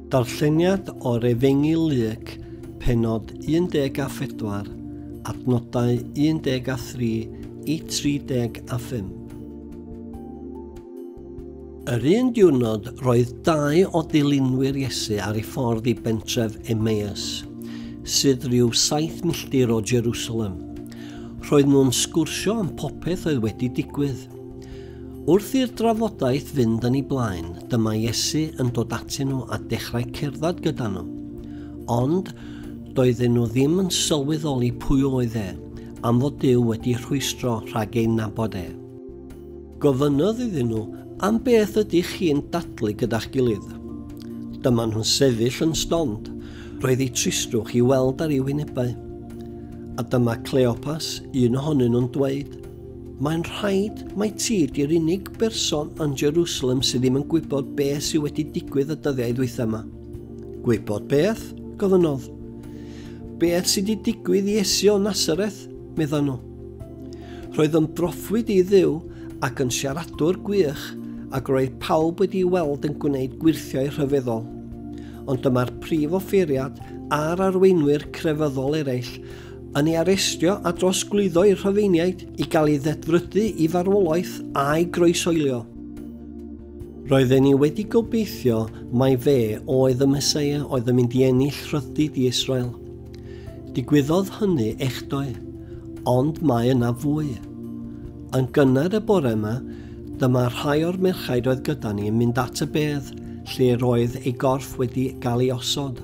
Darlleniad o'r Efengyl Luc, penod 14, adnodau 13 i 35. Yr un diwrnod roedd dau o dilynwyr Iesu ar ei ffordd i bentref Emmaus, sydd rhyw saith milltir o Jerusalem. Roedd nhw'n sgwrsio am popeth oedd wedi digwydd. Wrth i'r drafodaeth fynd yn ei blaen, dyma Iesu yn dod atyn nhw a dechrau cerdded gyda nhw. Ond doedden nhw ddim yn sylweddoli pwy oedd e, am fod Duw wedi rhwystro rhag ei nabod e. Gofynnodd iddyn nhw, Am beth ydych chi'n dadlu gyda'ch gilydd? Dyma nhw'n sefyll yn stond, roedd ei tristrwch i weld ar ei wynebau. A dyma Cleopas, un ohonyn nhw'n dweud, Mae'n rhaid mai ti ydy'r unig berson yn Jerusalem sydd ddim yn gwybod be sydd wedi digwydd y dyddiau ddwytha yma. Gwybod beth? gofynnodd. Beth sydd wedi digwydd i Esi o Nazareth? meddai nhw. Roedd yn broffwyd i ddiw ac yn siaradwr gwych ac roedd pawb wedi ei weld yn gwneud gwirthiau rhyfeddol. Ond dyma'r prif offeiriad a'r arweinwyr crefyddol eraill yn ei arestio a drosglwyddo i'r Rhufeiniaid i gael ei ddedfrydu i farwolaeth a'i groesoelio. Roedden ni wedi gobeithio mai fe oedd y Mesoea oedd yn mynd i ennill rhyddid i Israel. Digwyddodd hynny echdoe, ond mae yna fwy. Yn gynnar y bore yma, dyma rhai o'r merchaid oedd gyda ni yn mynd at y bedd lle roedd ei gorff wedi cael ei osod.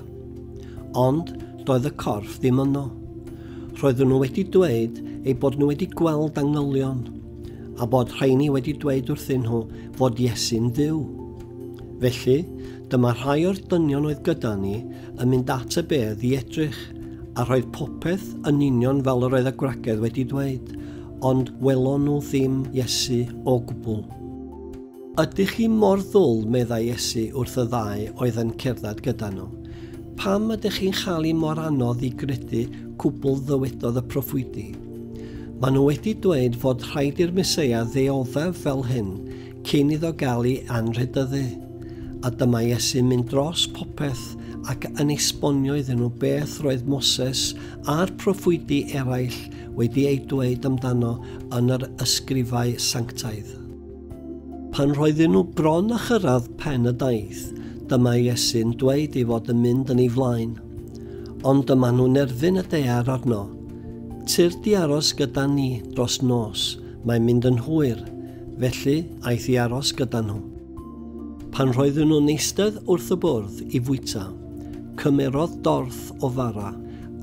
Ond doedd y corff ddim yno. Roedden nhw wedi dweud ei bod nhw wedi gweld angylion, a bod rhaini wedi dweud wrthyn nhw fod Iesu'n fyw. Felly, dyma rhai o'r dynion oedd gyda ni yn mynd at y bedd i edrych, a roedd popeth yn union fel yr oedd y gwragedd wedi dweud, ond welon nhw ddim Iesu o gwbl. Ydych chi mor ddwl, meddai Iesu wrth y ddau oedd yn cerdded gyda nhw. Pam ydych chi'n chael i mor anodd i gredu cwbl ddywedodd y proffwydi? Mae nhw wedi dweud fod rhaid i'r Meseia ddeoddef fel hyn cyn iddo gael ei anrhydyddu. A dyma Iesu'n mynd dros popeth ac yn esbonio iddyn nhw beth roedd Moses a'r proffwydi eraill wedi ei dweud amdano yn yr ysgrifau sanctaidd. Pan roedden nhw bron â chyrraedd pen y daith, dyma Iesu'n dweud ei fod yn mynd yn ei flaen. Ond dyma nhw'n erfyn y dear arno. Tyr di aros gyda ni dros nos, mae'n mynd yn hwyr, felly aeth i aros gyda nhw. Pan roedden nhw'n eistedd wrth y bwrdd i fwyta, cymerodd dorth o fara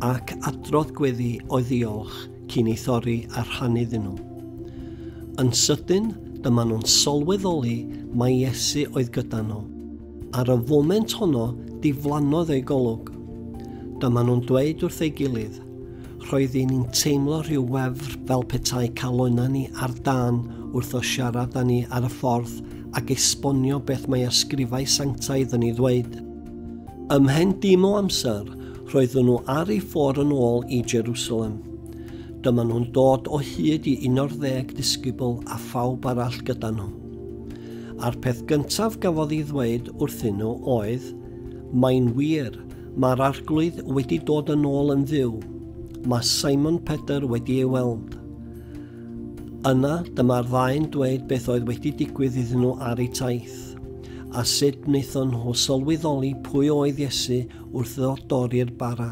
ac adrodd gweddi o'i ddiolch cyn ei thorri a rhannu iddyn nhw. Yn sydyn, dyma nhw'n sylweddoli mai Iesu oedd gyda nhw. Ar y foment honno, diflannodd ei golwg. Dyma nhw'n dweud wrth ei gilydd, Roedd i ni'n teimlo rhyw wefr fel petai calonnau ni ar dân wrth o siarad â ni ar y ffordd ac esbonio beth mae ysgrifau sanctaidd yn ei ddweud. Ymhen dim o amser, Roedden nhw ar eu ffordd yn ôl i Jerusalem. Dyma nhw'n dod o hyd i un o'r ddeg disgybl a phawb arall gyda nhw. A'r peth gyntaf gafodd ei ddweud wrthyn nhw oedd, Mae'n wir, mae'r arglwydd wedi dod yn ôl yn fyw. Mae Simon Pedr wedi ei weld. Yna, dyma'r ddau'n dweud beth oedd wedi digwydd iddyn nhw ar eu taith, a sut wnaethon nhw sylweddoli pwy oedd Iesu wrth iddo dorri'r bara.